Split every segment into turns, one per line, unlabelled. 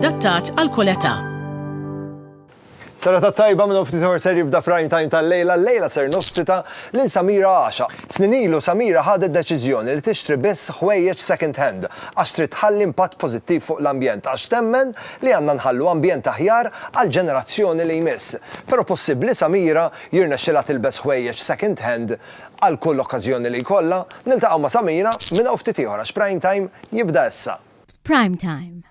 Adattat għal kull età. Serata
tajba minn ftit ħor ser jibda prime time tal-lejla, l-lejla ser nospita lil Samira Għaxa. Snin ilu Samira ħadet deċiżjoni li tixtri biss ħwejjeġ second hand għax trid tħalli impatt pożittiv fuq l-ambjent għax temmen li għandna nħallu ambjent aħjar għall-ġenerazzjoni li jmiss. Però possibbli Samira jirnexxilha tilbes ħwejjeġ second hand għal kull okkażjoni li jkollha? Niltaqgħu ma' Samira minn hawn ftit ieħor għax prime time jibda issa. Prime time.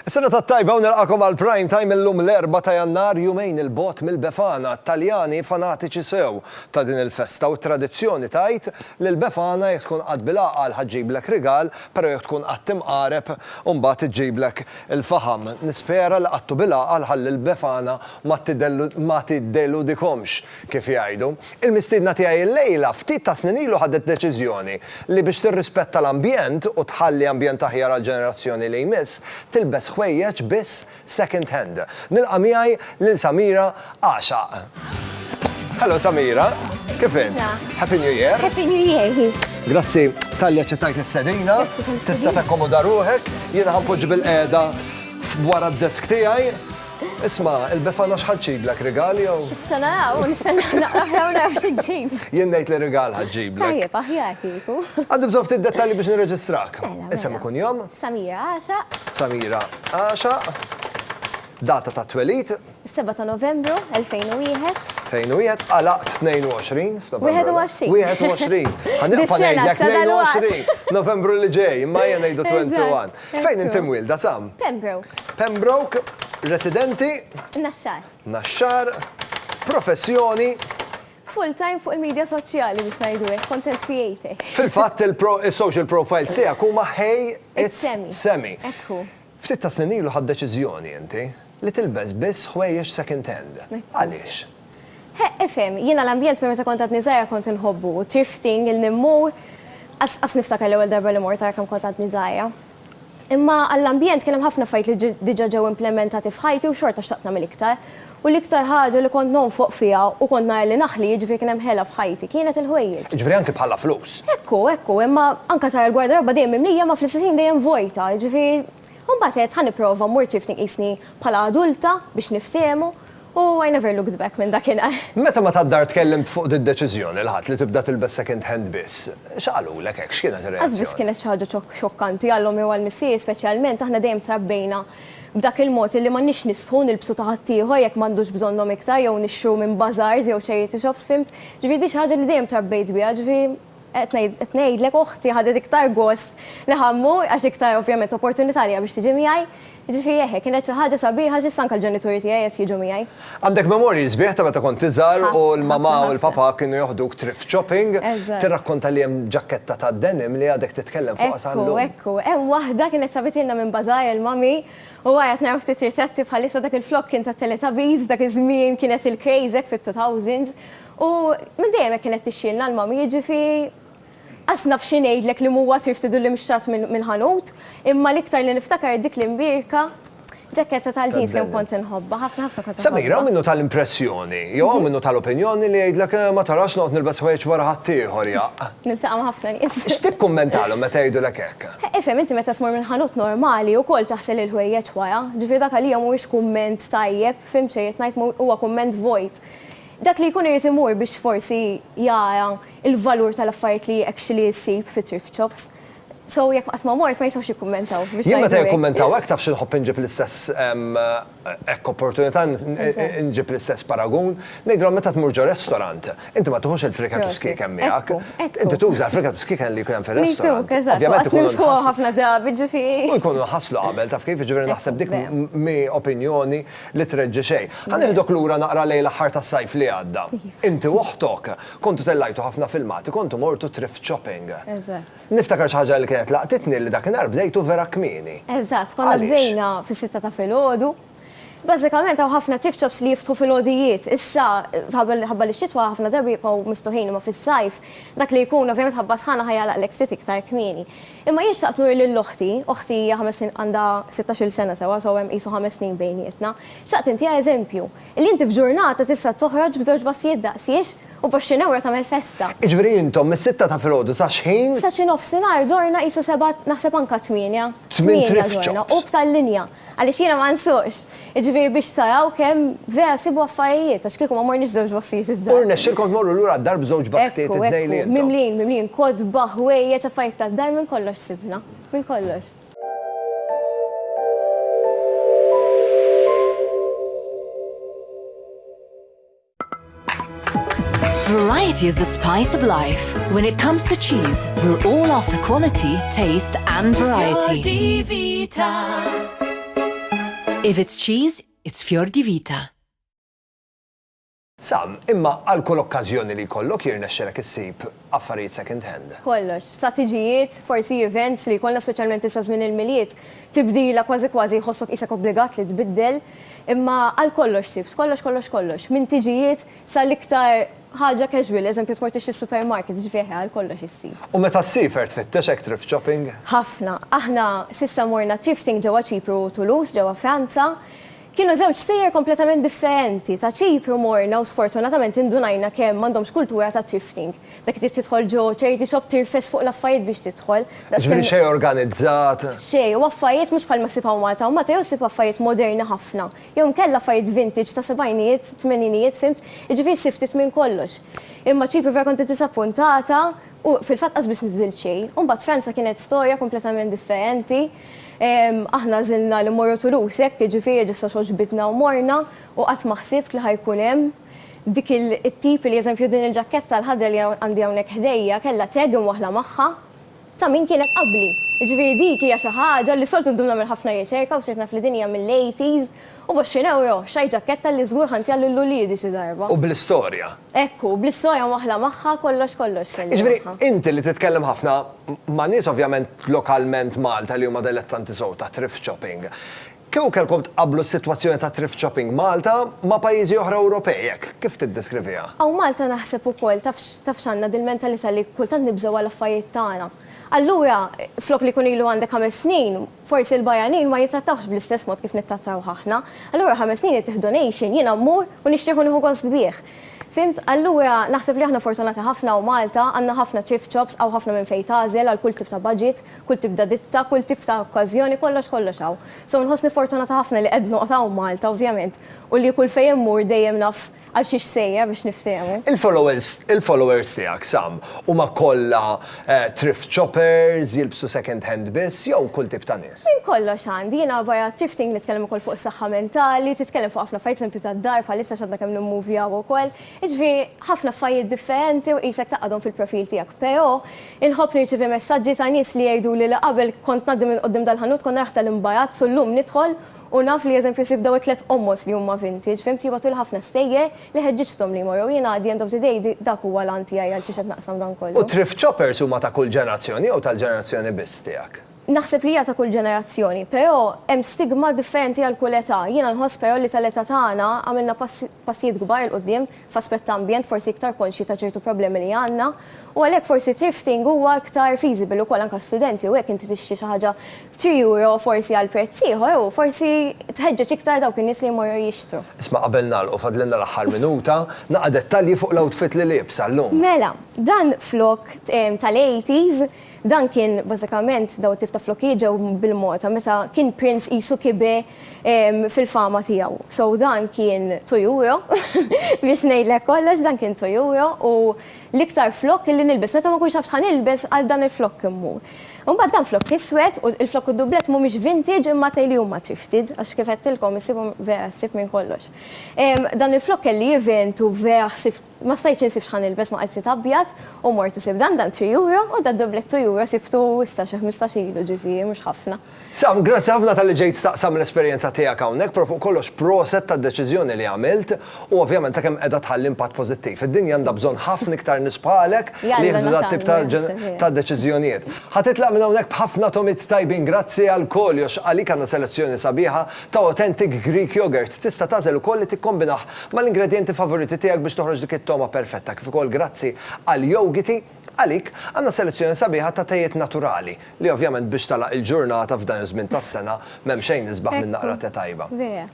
Is-sena tat-tajba u nilqakom għal Prime Time illum l-Erbgħa ta' Jannar jumejn 'il bogħod mill-Befana, Taljani fanatiċi sew ta' din il-festa u t-tradizzjoni tgħid li l-Befana jekk tkun qatt bil-għaqal ħa ġġiblek rigal però jekk tkun qatt imqareb imbagħad iġġiblek il-faħam. Nispera li qattu bil-għaqal ħalli l-Befana ma tiddeludikomx kif jgħidu. Il-mistiedna tiegħi illejla ftit ta' snin ilu ħadet deċiżjoni li biex tirrispetta l-ambjent u tħalli ambjent aħjar għall-ġenerazzjoni li jmiss, tilbes ħwejjeġ biss second hand. Nilqa' miegħi lil Samira Għaxaq. Hello Samira, kif int? Happy New Year. Happy New Year.
Grazzi
talli aċċettajt l-istedina. Tista' takkomoda ruħek, jiena ħanpoġġi bil-qiegħda wara d-desk tiegħi. Isma', il-Befana x'ħa ġġiblek, rigal jew? Issa naraw u nistennew
naqrah jew naraw xi ġġib. Jien ngħid li rigal
ħa ġġiblek. Tajjeb, aħjar kieku.
Għandi bżonn ftit dettalji
biex nirreġistrak. Mela, mela. Isem u kunjom?
Samira Għaxaq. Samira
Għaxaq. Data tat-twelid? Is-7 ta' Novembru
2001. 2001,
għalaqt 22 f'Novembru. 21. 21.
Ħa nibqa' ngħidlek
22.
Novembru
li ġej, imma jien ngħidu 21. Fejn inti mwielda,
Sam?
Pembroke.
Pembroke,
residenti? Naxxar.
Naxxar,
professjoni? Full
time fuq il-media soċjali biex ngħidu hekk, content creator. Fil-fatt
is-social profiles tiegħek huma Hey It's Semi. Ftit
tas-snin ilu
ħadt deċiżjoni inti Li tilbes biss ħwejjeġ second hand. Għaliex? He,
ifhem, jiena l-ambjent minn meta kont għadni żgħira kont inħobbu, thrifting, il-nimmur, qas qas niftakar l-ewwel darba li mort ara kemm kont għadni żgħira. Imma għall-ambjent kien hemm ħafna affarijiet li diġà ġew implementati f'ħajti u xorta xtaqt nagħmel iktar. U l-iktar ħaġa li kont nonfoq fiha u kont nara li naħli, jiġifieri kien hemm ħela f'ħajti, kienet il-ħwejjeġ. Jiġifieri anki bħala flus.
Hekk hu, hekk hu, imma
anke tara l-gwardaroba dejjem mimlija imma fl-istess ħin dejjem vojta, jiġifieri U mbagħad għedt ħa nipprova mmur ċifti nqisni bħala adulta biex niftiehmu u I never looked back minn dakinhar. Meta ma tad-dar
tkellimt fuq did-deċiżjoni l-Ħadd li tibda tilbes second hand biss, x'qalulek hekk, x'kienet ir-reazzjoni? Qasbiss kienet xi ħaġa
xokkanti għalhom jew għal Missieri speċjalment, aħna dejjem trabbejna b'dak il-mod illi m'għandniex nistħu nilbsu ta' ħaddieħor jekk m'għandux bżonnhom iktar jew nixtru minn bazaars jew charity shops, fhimt? Ġifieri din xi ħaġa li dejjem trabbejt biha, ġifieri. Qed ngħid, qed ngħidlek oħti ħadet iktar gost li ħa mmur għax iktar ovvjament opportunità li ha biex tiġi miegħi. Jiġifieri eħe, kienet xi ħaġa sabiħa għax issa anke l-ġenituri tiegħi qed jiġu miegħi. Għandek memorji
sbieħ ta' meta kont iżgħar u l-mamà u l-papà kienu joħduk thrift shopping. Tirrakkonta li hemm ġakketta ta' denim li għadek titkellem fuqha sa llum. Ekku, ekku. Hemm waħda
kienet sabitilna minn bazaar il-mommy u wara qed naraw ftit ritratti bħalissa dak il-flokk kien tat-Teletubbies, f'dak iż-żmien kienet il-craze hekk fit-two thousands. U minn dejjem hekk kienet tixxielna l-mami, jiġifi qas naf xi ngħidlek li m'huwa trif tidullim xtrat mill-ħanut, imma l-iktar li niftakar dik l-imbierka ġaketta tal-ġins kemm kont inħobbha, ħafna ħafna kont inħobbha. Samir, hawn minnu ta
l-impressjoni, jew hawn minnu ta l-opinjoni li jgħidlek eh ma tarax noqgħod nilbes ħwejjeġ wara ħaddieħor jaqq. Niltaqa' ma' ħafna nies.
X'tikkummentalhom meta
jgħidulek hekk? Ifhem, inti meta tmur minn
ħanut normali ukoll taħsel il-ħwejjeġ wara, ġifieri dak għalija m'huwiex kumment tajjeb, fimt x'irrid ngħid, huwa kumment vojt. Dak li jkun irid imur biex forsi jara l-valur tal-affarijiet li actually issib fi thrift shops. So jekk qatt ma mort ma jistgħux jikkummentaw biex ngħidu hekk. Jien meta jikkummentaw
hekk taf xi nħobb inġib l-istess hekk opportunità nġib l-istess paragun. Ngħidilhom meta tmur ġo restaurant, inti ma tiħux il-friket u s-skieken miegħek. Inti tuża l-friket u s-skieken li jkun hemm fir-restaurant. Miktub, eżatt. Ovvjament ikunu nħasslu. Nilħquha
ħafna drabi ġifieri. U jkunu nħasslu qabel,
taf kif, jiġifieri naħseb dik mhi opinjoni. li treġġi xejn. Ħa nieħdok lura naqra lejn l-aħħar tas-sajf li għadda. Inti u oħtok kontu tellajtu ħafna filmati, kontu mortu thrift shopping. Eżatt. Niftakar xi ħaġa li kienet laqtitni li dakinhar bdejtu vera kmieni. Eżatt, konna bdejna
fis-sitta
ta'
filgħodu. Bażikament hawn ħafna thrift shops li jiftħu filgħodijiet. Issa ħabba li x-xitwa ħafna drabi jibqgħu miftuħin imma fis-sajf dak li jkun ovvjament ħabba sħana ħa jagħlaqlek ftit iktar kmieni. Imma jien xtaqt nuri lil oħti, oħti hija ħames snin għandha sittax-il sena sewwa so hemm qisu ħames snin bejnietna, xtaqt intiha eżempju, illi inti f'ġurnata tista' toħroġ b'żewġ bassijiet daqsiex u b'għoxrin ewro tagħmel festa. Jiġifieri intom mis-sitta
ta' filgħodu sa x'ħin? Sa xi nofsinhar
dorna qisu seba' naħseb anka tmienja, tmienja dorna
u b'tal-linja.
Għaliex jiena ma nsuqx. Jiġifieri biex taraw kemm vera sibu affarijiet, għax kieku ma morniex b'żewġ baskijiet id-dar. U rnexxielkom tmorru lura
d-dar b'żewġ baskijiet it-tnejn li intom. Ekku, ekku, mimlijin, mimlijin, kotba,
ħwejjeġ, affarijiet tad-dar, minn kollox sibna. Minn kollox.
Variety is the spice of life. When it comes to cheese, we're all after quality, taste and variety. If it's cheese, it's Fior di Vita.
Sam, imma għal kull okkażjoni li jkollok jirnexxelek issib affarijiet second hand. Kollox, strateġijiet,
forsi events li jkollna speċjalment issa żmien il-Milied, tibdila kważi kważi jħossok qisek obbligat li tbiddel, imma għal kollox sibt, kollox kollox kollox, minn tiġijiet sal-iktar ħaġa casual, eżempju tmur tixtri s-supermarket, ġifieri eħe għal kollox issi. U meta ssifer
tfittex hekk thrift shopping? Ħafna. Aħna
s'issa morna thrifting ġewwa Ċipru u Toulouse ġewwa Franza, Kienu żewġ sejjer kompletament differenti. Ta' Ċipru morna u sfortunatament indunajna kemm m'għandhomx kultura ta' thrifting. Dak tip tidħol ġo charity shop tirfes fuq l-affarijiet biex tidħol. Jiġifieri xejn
organizzat. Xejn, u affarijiet
mhux bħalma ssib hawn Malta. Hawn Malta jew ssib affarijiet moderni ħafna, jew inkella affarijiet vintage ta' sebgħinijiet, tmeninijiet, fimt? Jiġifieri ssib ftit minn kollox. Imma Ċipru vera kont iddisappuntata u fil-fatt qas biss niżżilt xejn. U mbagħad Franza kienet storja kompletament differenti. Aħna għażilna li mmorru Toulouse, hekk, jiġifieri ġusta xogħġbitna u morna, u qatt ma ħsibt li ħa jkun hemm dik it-tip li, eżempju, din il-ġakketta l-ħadra li għandi hawnhekk ħdejja kellha tag imwaħħla magħha ta' min kienet qabli. Jiġifieri dik hija xi ħaġa li s-soltu ndum nagħmel ħafna riċerka u sirt naf li din hija mill-80s, U b'għoxrin ewro, x'high ġakketta li żgur ħa ntija lil uliedi xi darba. U bl-istorja. Hekk
hu, bl-istorja
mwaħħla magħha, kollox kollox kelli magħha. Jiġifieri, inti li
titkellem ħafna ma' nies ovvjament lokalment Malta li huma dilettanti sew ta' thrift shopping, kieku kellkom tqabblu s-sitwazzjoni ta' thrift shopping Malta ma' pajjiżi oħra Ewropej hekk, kif tiddeskriviha? Hawn Malta naħseb
ukoll taf taf x'għandna dil-mentalità li kultant nibżgħu għal affarijiet tagħna. Allura, flok li jkun ilu għandek ħames snin, Forsi l-barranin ma jittrattawhx bl-istess mod kif nittrattawh aħna. Allura ħames snin jittieħdu donation, jiena mmur u nixtrih u nieħu gost bih. Fhimt? Allura naħseb li aħna fortunati ħafna hawn Malta, għandna ħafna thrift shops, hawn ħafna minn fejn tagħżel għal kull tip ta' budget, kull tip ta' ditta, kull tip ta' okkażjoni, kollox kollox hawn. So nħossni fortunata ħafna li qed noqgħod hawn Malta ovvjament u li kull fejn immur dejjem naf Għal xiex sejja biex niftehmu? Il-followers
tiegħek, Sam, huma kollha thrift shoppers, jilbsu second hand biss, jew kull tip ta' nies? Minn kollox għandi. Jiena
barra thrifting nitkellem ukoll fuq is-saħħa mentali, titkellem fuq ħafna affarijiet, eżempju tad-dar bħalissa għax għadna kemm nimmovjaw ukoll. Jiġifieri ħafna affarijiet differenti u qisek tgħaqqadhom fil-profil tiegħek. Però inħobb nirċievi messaġġi ta' nies li jgħiduli li qabel kont ngħaddi minn quddiem dal-ħanut kont naraħ tal-imbarazz u llum nidħol U naf li eżempju ssib daw it-tliet qommoż li huma vintage, fhimt jibgħatuli ħafna stejjer li ħeġġiġthom li jmorru u jien at the end of the day dak huwa l-għan tiegħi għal xiex qed naqsam dan kollu. U thrift shoppers huma ta'
kull ġenerazzjoni jew tal-ġenerazzjoni biss tiegħek? Naħseb li hija ta' kull
ġenerazzjoni, però hemm stigma differenti għal kull età. Jiena nħoss però li tal-età tagħna għamilna passi passijiet kbar 'il quddiem f'aspett ta' ambjent forsi iktar konxji ta' ċertu problemi li għandna u għalhekk forsi thrifting huwa iktar feasible ukoll anke għas-studenti u hekk inti tixtri xi ħaġa b'three euro forsi għal prezz ieħor u forsi tħeġġeġ iktar dawk in-nies li jmorru jixtru. Isma' qabel nagħlqu
fadlilna l-aħħar minuta, naqra dettalji fuq l-outfit li liebsa llum. Mela, dan
flokk tal-80s. Dan kien bażikament dawn it-tip ta' flokijiet ġew bil-Malta meta kien prince qisu kibe fil-fama tiegħu. So dan kien Toyuyo biex ngħidlek kollox dan kien Toyuyo u l-iktar flokk illi nilbes meta ma nkunx naf x'ħa nilbes għal dan il-flokk immur. Imbagħad dan flokk iswed u l-flokk u d-dublett mhumiex vintage imma tnejli huma thrifted għax kif għedtilkom issibhom vera ħsieb minn kollox. Dan il-flokk kelli event u vera ħsibt Ma stajtx insib x'ħa nilbes ma qalbsiet abjad u mort u sibt dan dan three euro u da doublet two euro sibtu issa xi ħmistax ilu ġifieri mhux ħafna. Sam, grazzi ħafna
talli ġejt taqsam l-esperjenza tiegħek hawnhekk, però fuq kollox proset tad-deċiżjoni li għamilt u ovvjament ta' kemm qiegħda tħalli impatt pożittiv. Id-dinja għandha bżonn ħafna iktar nies bħalek li jieħdu dat-tip ta' deċiżjonijiet. Ħa titlaq minn hawnhekk b'ħafna tomit tajbin. Grazzi għal koljox, għalik għandna selezzjoni sabiħa. ta' authentic Greek yogurt. Tista' tagħżel ukoll li tikkombinah mal-ingredjenti favoriti tiegħek biex toħroġ dik it-togħma perfetta. Kif ukoll grazzi għal Yogiti, għalik, għandna selezzjoni sabiħa ta' tejiet naturali, li ovvjament biex tagħlaq il-ġurnata f'dan iż-żmien tas-sena, m'hemm xejn isbaħ minn naqra te tajba.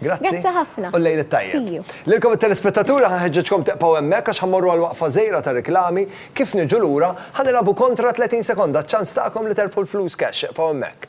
Grazzi u l-lejl it-tajjeb. Lilkom it-telespettaturi ħa nħeġġeġkom tibqgħu hemmhekk għax ħa mmorru għal waqfa żgħira ta' riklami, kif niġu lura, ħa nilgħabu kontra 30 sekonda, ċ-ċans tagħkom li terbħu l-flus cash, ibqgħu hemmhekk.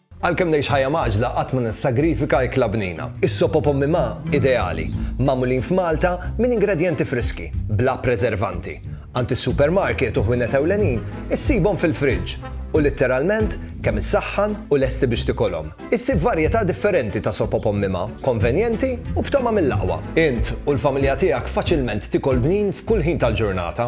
Għalkemm
ngħix ħajja mgħaġġla qatt ma nissagrifika ikla bnina. Is-sop o pommi ma, ideali, magħmulin f'Malta minn ingredjenti friski, bla preservanti. Għand is-supermarket u ħwienet ewlenin issibhom fil-friġġ u litteralment kemm issaħħan u lesti biex tikolhom. Issib varjetà differenti ta' sop o pommi ma, konvenjenti u b'togħma mill-aqwa. Int u l-familja tiegħek faċilment tikol bnin f'kull ħin tal-ġurnata.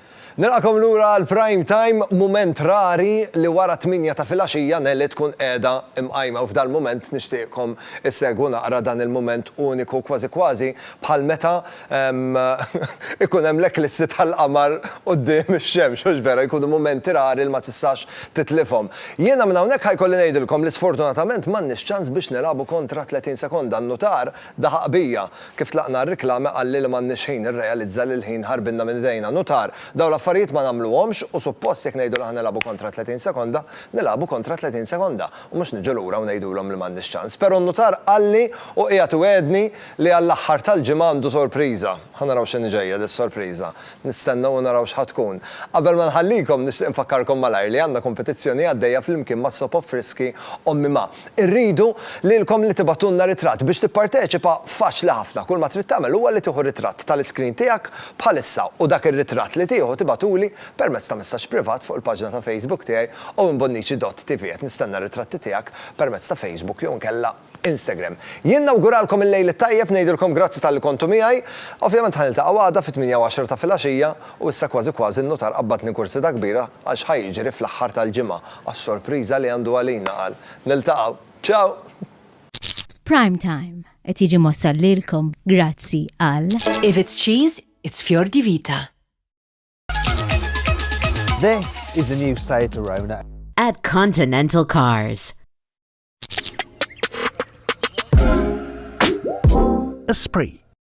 Nilqakom lura għal Prime Time, mument rari li wara t-tmienja ta' filgħaxija Nelly tkun qiegħda mqajma u f'dal-mument nixtieqkom issegwu naqra dan il-mument uniku kważi kważi bħal meta ikun hemm l-eklissi tal-qamar quddiem ix-xemx, hux vera, jkunu mumenti rari li ma tistax titlifhom. Jiena minn hawnhekk ħa jkolli ngħidilkom li sfortunatament m'għandniex ċans biex nilagħbu kontra 30 sekonda, n-nutar, Daħaq bija. Kif tlaqna r-riklame qalli li m'għandniex ħin, irrealizza li l-ħin ħarbinna minn idejna. Nutar, dawn l-affarijiet ma nagħmluhomx u suppost jekk ngħidu li aħna nilagħbu kontra 30 sekonda, nilagħbu kontra 30 sekonda u mhux niġu lura u ngħidulhom li m'għandniex ċans. Pero' n-nutar qalli u qiegħed iwegħedni li għall-aħħar tal-ġimgħa għandu sorpriża. Ħa naraw x'inhi ġejja dis-sorpriża. Nistennew u naraw x'ħa tkun. Qabel ma nħallikom nixtieq infakkarkom malajr li għandna kompetizzjoni għaddejja flimkien mas-Soap Opfriski Ommi Ma. Irridu lilkom li tibagħtulna ritratt. Biex tipparteċipa, faċli ħafna. Kull ma trid tagħmel huwa li tieħu ritratt tal-iskrin tiegħek bħalissa u dak ir-ritratt li tieħu tibagħtuli permezz ta' messaġġ privat fuq il-paġna ta' Facebook tiegħi owenbonnici dott TV. Qed nistenna r-ritratti tiegħek permezz ta' Facebook jew inkella Instagram. Jien nawguralkom il-lejl it-tajjeb, ngħidilkom grazzi talli kontu miegħi. Ovvjament ħa niltaqgħu għada fit-tmienja u għaxra ta' filgħaxija u issa kważi kważi n-nutar qabbadni kursita kbira Għax ħa jiġri fl-aħħar tal-ġimgħa għas-sorpriża li għandu għalina qal, Niltaqgħu. Ciao!
Prime Time qed jiġi mwassal lilkom
grazzi għal. If
it's
cheese,
it's fior
di vita.
This is the new Seat Arona. At Continental
Cars.
Esprit.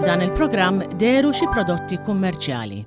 F'dan il-programm deru xi prodotti kummerċjali.